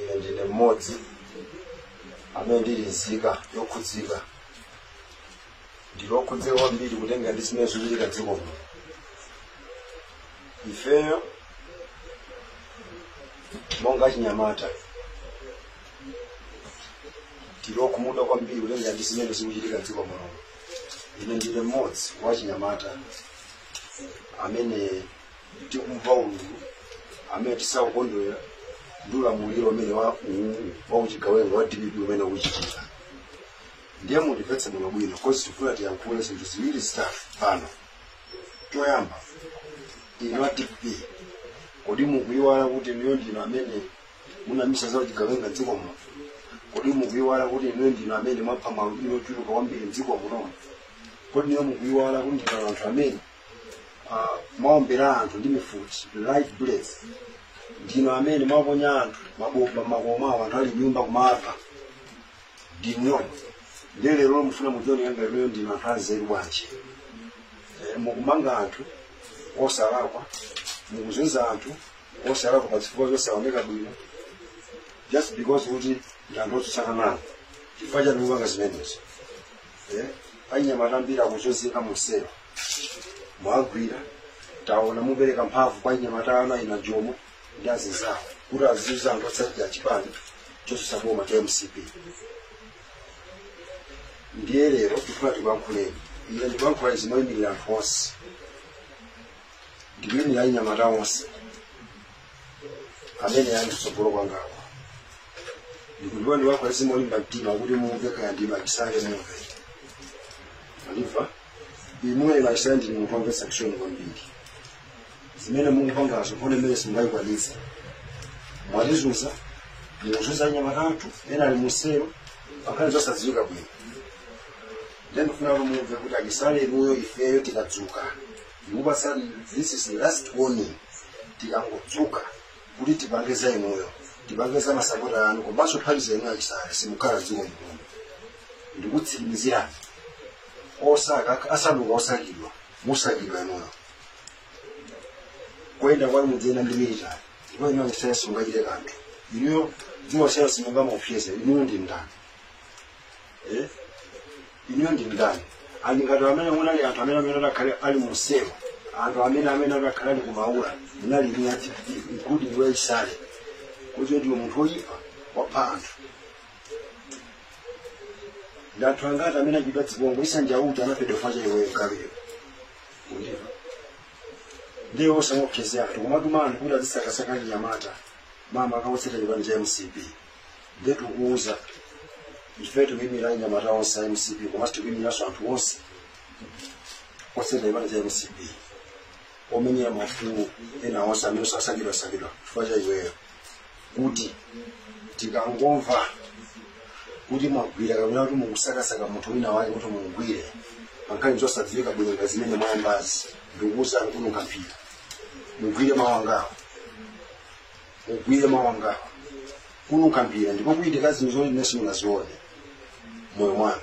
ine ndine mmodzi amene ndili nzika yokhudzika ndili wokhudzika kwambiri kutengera ndi zimene zikuchitika dziko muno ifeyo monga achinyamata tili okhumudwa kwambiri kutengera ndi zimene zikuchitika dziko muno ine ndine mmodzi wa achinyamata amene tikumva ululu amene tisakukondwera ndi ulamuliro umene wa uwu wa uchigawenga wa dpp umene ukuchitika ndiye mundimvetse bwino bwino coz tifuna tiyankhule zinthu ziwiri zitatu pano choyamba inu a dpp kodi mukuyiwala kuti inuyo ndinu amene munayambitsa za uchigawenga mdziko muno kodi mukuyiwala kuti inuyo ndinu amene mwapha maalubino ochuluka kwambiri mdziko muno kodi inuyo mukuyiwala kuti ndinu anthu amene uh, mwaombera anthu ndi mifuti live bullets ndinu amene mwaponya anthu mabomba mmakomo awo anthu ali mnyumba kumapha ndinu ndiye lero mufuna mudzione ngati inuyo ndinu anthu anzeru bwanji Eh, mukumanga anthu osalakwa mukuzunza anthu osalakwa pa zifukwa zosaoneka bwino just because kuti ndi anthu otsutsana nawo chifukwa chani mukupanga zimenezo Eh, anyamata ambiri akuchozeka muselo mwagwira taona mupereka mphamvu kwa anyamata anu achina jomo ndi azinzawo kuti azizunza anthu otsatira chipani chotsutsa boma cha mcp ndiye lero tikufuna tikuyankhuleni ine ndikuyankhula izi moyimirira anthu onse ndikuyimirira anyamata onse amene ali kutsogolo kwangawa ndikudziwa ndikuyankhula izi molimba mtima kuti mumve kaya ndinu a chisale mumve aliva inuyo a chisale ndinu munthu womvetsa chisoni kwambiri zimene mukupangazo nkhondo imene simungayikwanitse mwatizunza mukuzunza anyamata athu ena ali muselo pankhani zosadziwika bwino nde ndifuna kuti mumve kuti a chisale inuyo ifeyo tikadzuka ndikupatsani this is the last warning tikangodzuka kuti tipange za inuyo tipange za masapota anu komanso pomaliza inu a chisale simukhala dziko muno ndikutsimikizirani osaka asanduka osakidwa musakidwa inuyo kuyenda kwanu mudziyenda ndi military ndipo inuyo simungachite kanthu inuyo dziko simungamuopseze inuyo ndi ndani Eh? inuyo ndi ndani ali ngati amene munali anthu amene amene adakakhala ali muselo anthu amene amene adakakhala ali kumaula munali inuyo including iwe chisale kuti ndiwe munthu woyipa wapha anthu ndi anthu angati amene achita dzibongo issa njauju anaphedwa chifukwa cha iweyo kabiri ukundimva ndiye osamaopseza anthu kumatuma anthu kuti azisakasaka anyamata makamaka otsata chipani cha mcp ndiye tikuuza ife tikuyimira anyamata onse a mcp komanso tikuyimiranso anthu onse otsata chipani cha mcp omenyera maufulu ena onse amene akusakidwasakidwa chifukwa cha iweyo kuti tikangomva kuti mwagwira kapena kuti mukusakasaka munthu wina wake kuti mumgwire pankhani zosadziwika bwino ngati zimene mwayambazi ndikuuzani kununkha mphira mugwire mawangawo mugwire mawangawo kununkha mphira ndipo kuchitika zinthu zoti ine simunazione moyo mwanu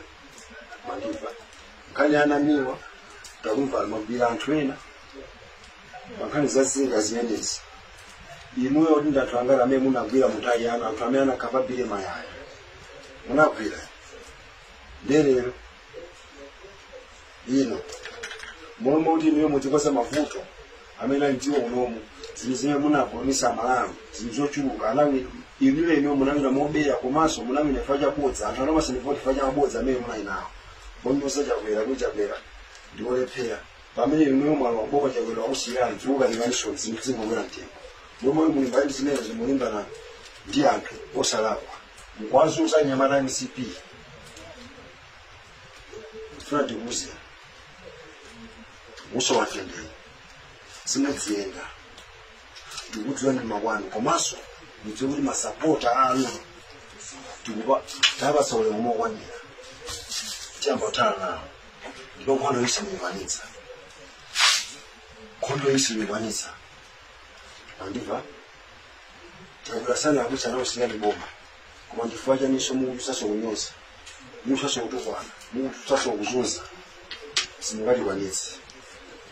mwandimva nkhani ya namiwa tikumva mwagwira anthu ena pankhani za zii zimenezi inuyo kuti ndi anthu angati amene munagwira mu time yanu anthu amene anakhapa billy mayaya munagwira ndiye lero ino momwe kuti inuyo muzikonza mavuto amene ali mdziko munomu zinthu zimene munapulomisa amalawi zinthu zochuluka anawina inuyo inuyo munawina mobera komanso munawina chifukwa cha bodza anthu anakupatsani voti chifukwa cha mabodza amene munali nawo ponyoza chakwera kuti chakwera ndiolephera pamene inuyo mwalowa boma chakwera wakusiyirani zikukukanikaninso zinthu zingokwera mtengo mmalo molimbana ndi zimenezo mukulimbana ndi anthu osalakwa mukuwazunza anyamata a mcp tifuna tikuuzeni muusowa mtendere simudziyenda tikudziwa ndi makwanu komanso mudziwe kuti masapota anu tikupa tawapatsa ulemu mokwanira tiyamba kuthana nawo ndipo nkhondo iyi simuyikwanitsa nkhondo iyi simuyikwanitsa mwandimva takula sana akuti anaosiya ndi boma koma chifukwa chaninso mukutusaso kunyoza mukutusaso kutukwana mukutusaso kuzunza simungatikwanitse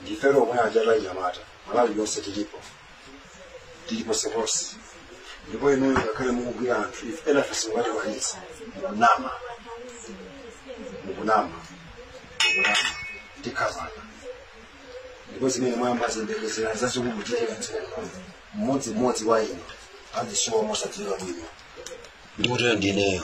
ndifeyo omwe aja anyamata malawi yonse tilipo tili ponseponse ndipo inuyo ngakhale mukugwira anthu ife ena ife simungatikwanitse mukunama mukunama mukunama tikhapana ndipo zimene mwayambazi yembekezerani zazikulu kuchitika mmodzimmodzi wa inu azisowa mosadziwika bwino ndikutero ndineyo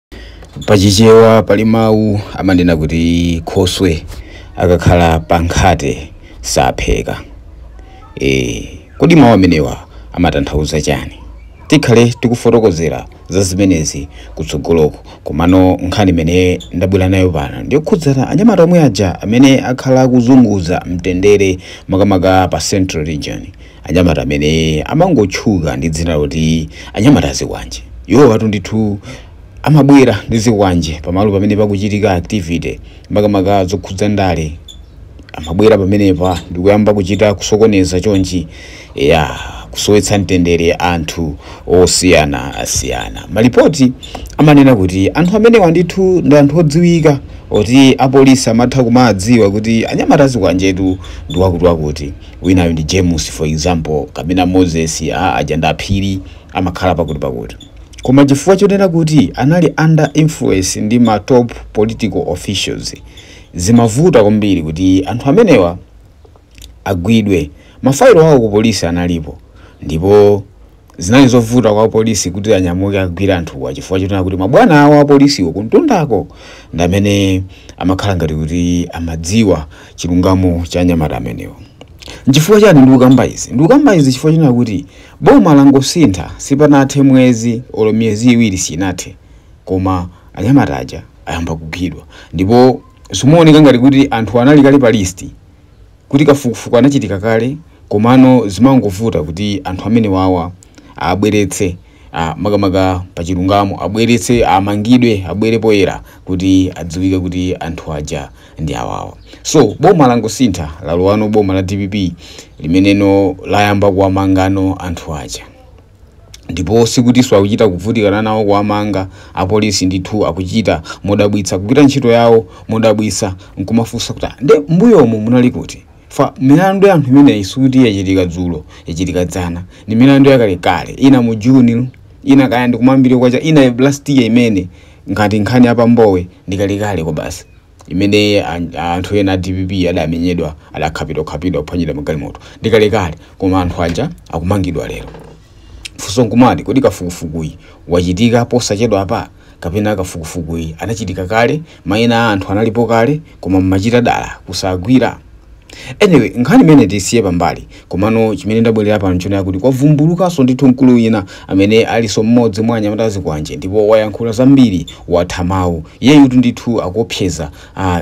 pachichewa pali mawu amanena kuti khoswe akakhala pa nkhate sapheka e, kodi mawu amenewa amatanthauza chani tikhale tikufotokozera za zimenezi kutsogoloko komano nkhani imene ndabwera nayo pano ndiyokhudzana anyamata omwe aja amene akhala akuzunguza mtendere makamaka pa central region anyamata amene amangotchuka ndi dzina loti anyamata azikwanje iwowatu ndithu amabwera ndi zikwanje pamalo pamene pakuchitika activity makamaka zokhudza ndale amabwera pamenepa ndikuyamba kuchita kusokoneza chonchi ya kusowetsa mtendere anthu osiyana asiyana malipoti amanena kuti anthu amenewa ndithu ndi anthu odziwika oti apolisi amatha kumawadziwa kuti anyamata azikwanjetu ndi wakuti wakuti winayo ndi James for example kapena Moses aa aja ndi aphiri amakhala pakuti pakuti koma chifukwa chonena kuti anali under influence ndi ma top political officials zimavuta kwambiri kuti anthu amenewa agwidwe mafailo awo ku polisi analipo ndipo Zinali zovuta kwa apolisi kuti anyamuke akagwire anthuwa chifukwa chonena kuti mabwana awo apolisiwo kumtundako ndi amene amakhala ngati kuti amadziwa chilungamo cha anyamata amenewo. N'chifukwa chani ndikukamba izi? Ndikukamba izi chifukwa chonena kuti boma langosintha sipanathe mwezi olo miyezi iwiri sinathe koma anyamata aja ayamba kugwidwa ndipo zikumaoneka ngati kuti anthuwa anali kale pa list. kuti kafukufuku anachitika kale komano zimangovuta kuti anthu amenewawa abweretse makamaka pa chilungamo abweretse amangidwe abwere poyera kuti adziwike kuti anthu aja ndi awawa so boma langosintha lalowano boma la dpp limeneno layamba kuwamangano anthu aja ndipo sikutinso akuchita kuvutikana nawo kuwamanga apolisi ndithu akuchita modabwitsa kugwira ntchito yawo modabwitsa nkumafunsa kuti "Ah, nde mbuyomu munali kuti pa milandu ya anthu imeneyi sikuti yachitika dzulo yachitika dzana ni milandu yakalekale ina mu juni ina kaya ndikumayambiriro kwa chaka ina last year imene ngati nkhani ya pa Mbowe ndikalekale kwa basi imene anthu ena a dpp adamenyedwa adakhapidwakhapidwa kuphwanyidwa magalimoto ndi kalekale koma anthu aja akumangidwa lero funso nkumati kodi kafukufukuyi wachitika posachedwa apa kapena kafukufukuyi anachitika kale mayina a anthu analipo kale koma mmachita dala kusagwira anyway nkhani imeneyi tisiye pambali Komano chimene ndabwerera pano nchonena kuti kwavumbulukanso ndithu mkulu wina amene alinso mmodzi mwa anyamata azikwanje ndipo wayankhula zambiri, watha mawu. Iyeyutu ndithu akuopseza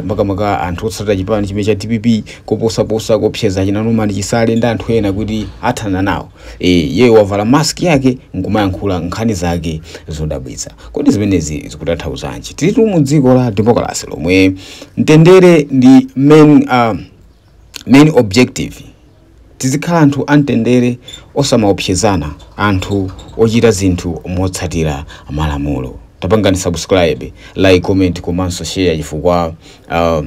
makamaka anthu otsatira chipani chimene cha dpp koposaposa akuopseza achina Norman Chisale ndi anthu ena kuti athana nawo. E, iyeyo wavala mask yake nkumayankhula nkhani zake zodabwitsa. Kodi zimenezi zikutanthauzanji? Tilitu mu dziko la demokalase lomwe mtendere ndi main a. main objective tizikhala anthu amtendere osamaopsezana anthu ochita zinthu motsatira malamulo tapangani subscribe like comment komanso share chifukwa uh,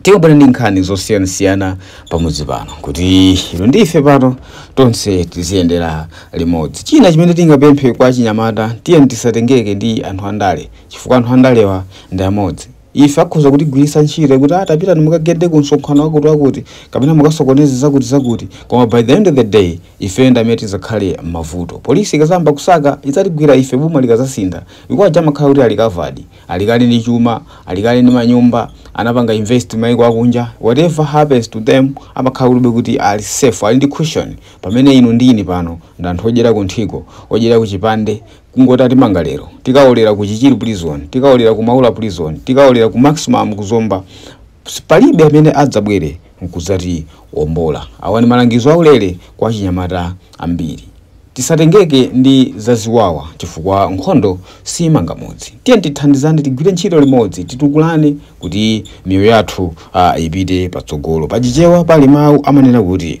tikubwera ndi nkhani zosiyanasiyana pamudzi pano kuti inu ndi ife pano tonse tiziyendera limodzi china chimene tingapemphe kwa achinyamata tiyeni tisatengeke ndi anthu andale chifukwa anthu andalewa ndi amodzi Ife akhoza kutigwiritsa ntchito kuti ah, tapitani mukagende ku msonkhano wakuti wakuti kapena mukasokoneze zakuti zakuti, koma by the end of the day ifeyo ndi amene tidzakhale m'mavuto. Polisi ikadzayamba kusaka idzatigwira ife boma likadzasintha chifukwa aja amakhala kuti ali covered, ali kale ndi chuma, ali kale ndi manyumba, anapanga invest mayiko akunja, whatever happens to them amakhala kulibe kuti ali safe, ali ndi cushion. Pamene inu ndi ine pano ndi anthu odyera kunthiko, odyera kuchipande, kungoti atimanga lero tikaolera ku chichiri prison tikaolera ku maula prison tikaolera ku maximum ku zomba Ps- palibe amene adzabwere nkudzatiwombola awa ni malangizo aulere kwa achinyamata ambiri tisatengeke ndi zaziwawa chifukwa nkhondo siyimanga mudzi tiyeni tithandizane tigwire ntchito limodzi titukulane kuti miyoyo yathu ah, ipite patsogolo pachichewa pali mawu amanena kuti